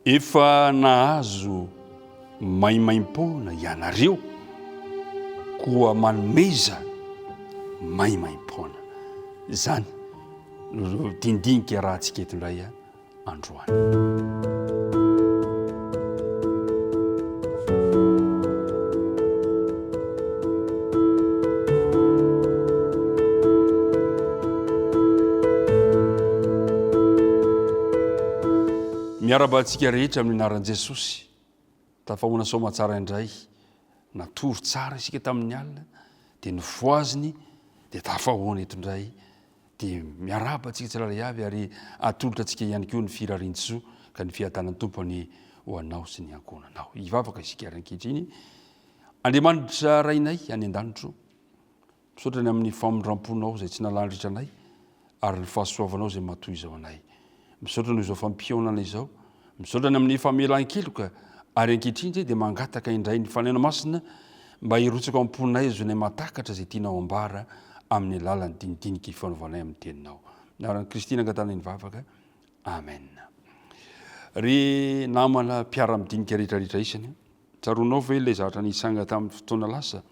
Efa nahazo maimaimpoana ianareo, koa manomeza maimaimpoana. Izany no dindinika rahantsika eto indray androany. Miarahaba antsika rehetra amin'ny anaran'i Jesosy. Tafahoana soamatsara indray. Natory tsara isika tamin'ny alina, dia nofohaziny, dia tafahoana eto indray. dia miarahaba antsika tsirairay avy ary atolotra antsika ihany koa ny firarian-tsoa ka ny fiadanan'ny Tompo ny ho anao sy ny ankohonanao. Hivavaka isika ary ankehitriny. Andriamanitra Rainay any an-danitro, misaotra ny amin'ny famindram-ponao izay tsy nalandritra anay ary ny fahasoavanao izay matoy izao anay. Misaotra noho izao fampihaonana izao. Misaotra ny amin'ny famelan-keloka ary ankehitriny dia mangataka indray ny Fanahy Masina mba hirotsaka ao am-ponay azonay mahatakatra izay tianao ambara amin'ny alalan'ny dinidinika ifanaovanay amin'ny teninao. Ny anaran'i Kristy no angatanay ny vavaka. Amen. Ry namana mpiara-midinika rehetrarehetra isany, tsaroanao ve ilay zavatra nitranga tamin'ny fotoana lasa?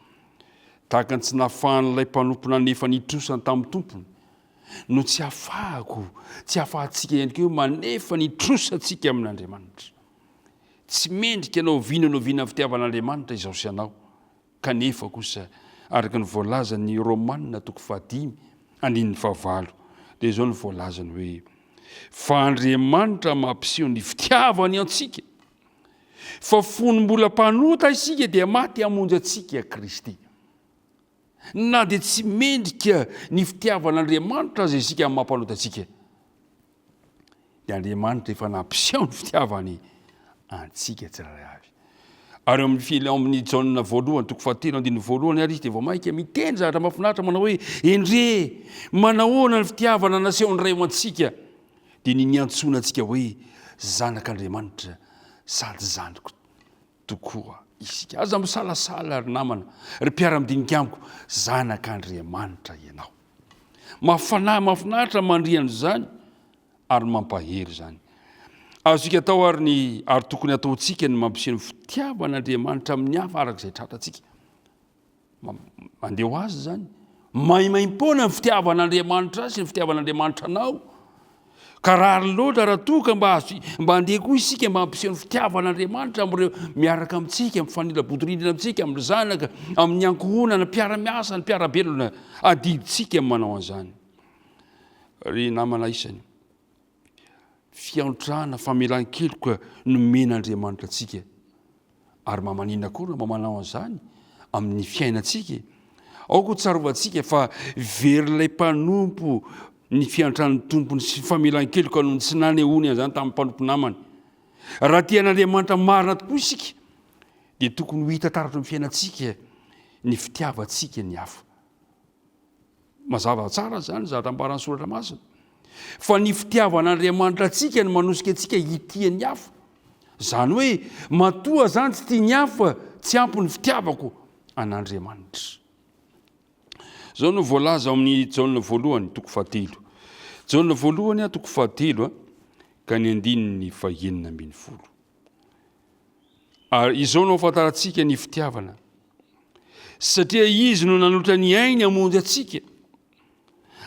Tahaka ny tsy nahafahan'ilay mpanompony anefany hitrosa ny tamin'ny tompony, no tsy afahako, tsy afahantsika ihany koa hoe manefa ny trosantsika amin'Andriamanitra. Tsy mendrika na oviana na oviana fitiavan'Andriamanitra izaho sy ianao, kanefa kosa araka ny voalazan'ny Romana toko fahadimy andininy fahavalo dia izao no voalazany hoe fa Andriamanitra mampiseho ny fitiavany antsika fa fony mbola mpanota isika dia maty hamonjy antsika Kristy. Na dia tsy mendrika ny fitiavan'Andriamanitra aza isika amin'ny maha-mpanota antsika, dia Andriamanitra efa nampiseho ny fitiavany antsika tsirairay avy. Ary eo amin'ny fil ao amin'ny Jaona voalohany toko fahatelo andininy voalohany ary izy dia vao mainka miteny zavatra mahafinaritra manao hoe endrey manahoana ny fitiavana nasehon'ny Ray ho antsika dia ny niantsoana antsika hoe zanak'Andriamanitra sady zandriko. tokoa isika. Aza misalasala ry namana, ry mpiara-midinika amiko, zanak'Andriamanitra ianao. Mafana, mafinaritra mandria an'izany ary mampahery izany. Azontsika atao ary ny ary tokony ataontsika ny mampiseho ny fitiavan'Andriamanitra amin'ny hafa araka izay tratratsika. Mandeha ho azy izany. Maimaim-poana ny fitiavan'Andriamanitra azy sy ny fitiavan'Andriamanitra anao. Ka rariny loatra raha toa ka mba mba andeha koa isika mba hampiseho ny fitiavan'Andriamanitra amin'ireo miaraka amintsika, mifanila-bodirindrina amintsika, amin'ny zanaka, amin'ny ankohonana, ny mpiara-miasa, ny mpiara-belona. Adidintsika manao an'izany. Ry namana isany. fiantrana, famelan-keloka nomen'Andriamanitra antsika. Ary mba maninona koa no mba manao an'izany amin'ny fiainantsika e? Aoka ho tsarovantsika fa verin'ilay mpanompo ny fiantran'ny tompony sy famelan-keloka noho ny tsy nanehoany an'izany tamin'ny mpanompo namany. Raha tia an'Andriamanitra marina tokoa isika dia tokony ho hita taratra amin'ny fiainantsika ny fitiavantsika ny hafa. Mazava tsara izany, zavatra ambaran'ny Soratra Masina. Fa ny fitiavan'Andriamanitra antsika no manosika antsika hitia ny hafa. Izany hoe, matoa izany tsy tia ny hafa, tsy ampy ny fitiavako an'Andriamanitra. Izao no voalaza ao amin'ny Jaona voalohany, toko fahatelo. Jaona voalohany, ah, toko fahatelo, ah, ka ny andininy fahenina ambin'ny folo. Ary izao no afantarantsika ny fitiavana, Satria izy no nanolotra ny ainy hamonjy antsika,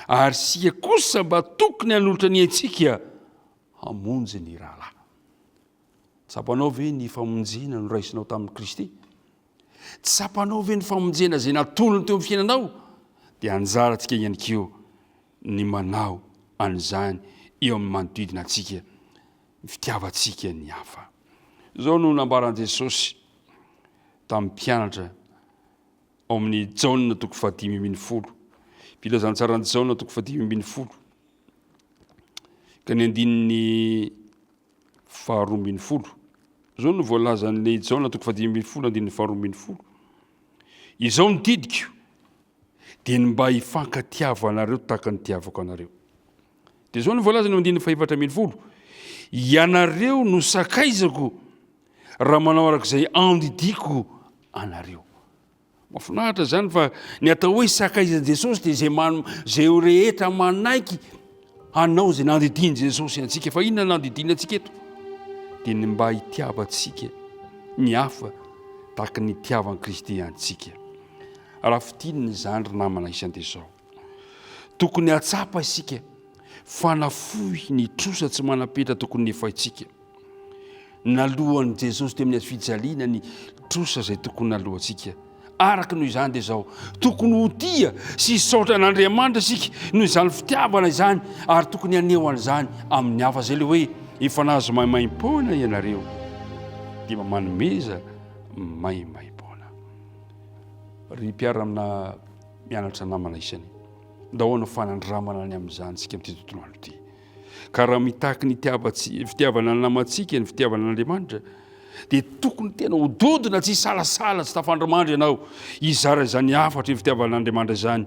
ary isika kosa mba tokony hanolotra ny aintsika hamonjy ny rahalahy. Tsapanao ve ny famonjena noraisinao tamin'i Kristy? Tsapanao ve ny famonjena izay natolony teo amin'ny fiainanao? Dia anjara antsika ihany koa ny manao an'izany eo amin'ny manodidina antsika, ny fitiavantsika ny hafa. Izao no nambaran'i Jesosy tamin'ny mpianatra ao amin'ny Jaona toko fahadimy ambin'ny folo. Filazantsaran'i Jaona toko fahadimy ambin'ny folo ka ny andininy faharoa ambin'ny folo. Izao no voalazan'ilay i Jaona toko fahadimy ambin'ny folo andininy faharoa ambin'ny folo. Izao ny didiko dia ny mba hifankatiavanareo tahaka ny tiavako anareo. Dia izao no voalazany eo andininy fahefatra ambin'ny folo, Ianareo no sakaizako raha manao araka izay andidiako anareo. Mafinahitra izany fa ny atao hoe sakaizan'i Jesosy dia izay man, izay rehetra manaiky hanao izay nandidian'i Jesosy antsika. Fa inona nandidiana antsika eto? Dia ny mba hitiavantsika ny hafa tahaka ny hitiavan'i Kristy antsika. Raha fitinina izany ry namana isany dia izao. Tokony hahatsapa isika fa nafoy ny trosa tsy manam-petra tokony nefaintsika. Naloan'i Jesosy teo amin'ny hazo fijaliana ny trosa izay tokony naloantsika. Araka noho izany dia izao, tokony ho tia sy hisaotra an'Andriamanitra isika noho izany fitiavana izany ary tokony haneho an'izany amin'ny hafa. Izay ilay hoe efa nahazo maimaim-poana ianareo dia mba manomeza maimaim-poana. Ry mpiara-mna Mianatra namana isany. Ndao hanao fanandramana ny amin'izany isika amin'ity tontolo andro ity. Ka raha mitaky ny fitiavana ny namantsika, ny fitiavana an'Andriamanitra, dia tokony tena ho dodona tsy salasala tsy tafandrimandry ianao hizara izany hafatra ny fitiavana an'Andriamanitra izany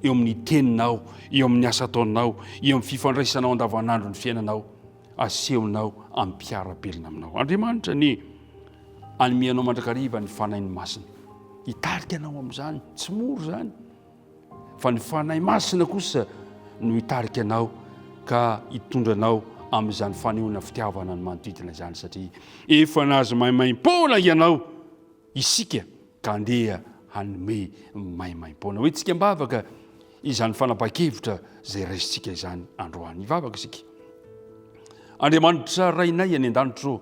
eo amin'ny teninao, eo amin'ny asa ataonao, eo amin'ny fifandraisanao andavanandro ny fiainanao. Asehonao ampiara-belona aminao. Andriamanitra anie, anome anao mandrakariva ny Fanainy Masina. Hitarika anao amin'izany, tsy mora izany. Fa ny Fanahy Masina kosa no hitarika anao ka hitondra anao amin'izany fanehoana fitiavana ny manodidina izany satria efa nahazo maimaim-poana ianao isika. ka andeha hanome maimaim-poana. Hoentsika am-bavaka izany fanapahan-kevitra izay raisintsika izany androany. Hivavaka isika. Andriamanitra Rainay any an-danitro,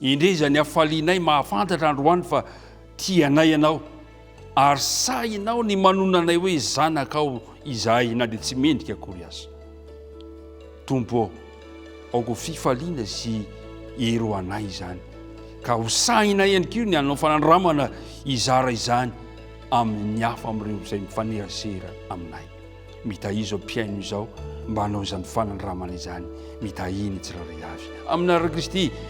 indre izay ny hafalianay mahafantatra androany fa tianay Ianao, ary sahinao ny manona anay hoe zanakao izahay na dia tsy mendrika akory aza. Tompo ô! Aoka fifaliana sy hery ho anay izany, ka ho sahinay ihany koa ny hanao fanandramana hizara izany amin'ny hafa amin'ireo izay mifanerasera aminay. Mitahiry izao mpihaino izao mba hanao izany fanandramana izany. Mitahiry ny tsirairay avy. Aminà Ray Kristy.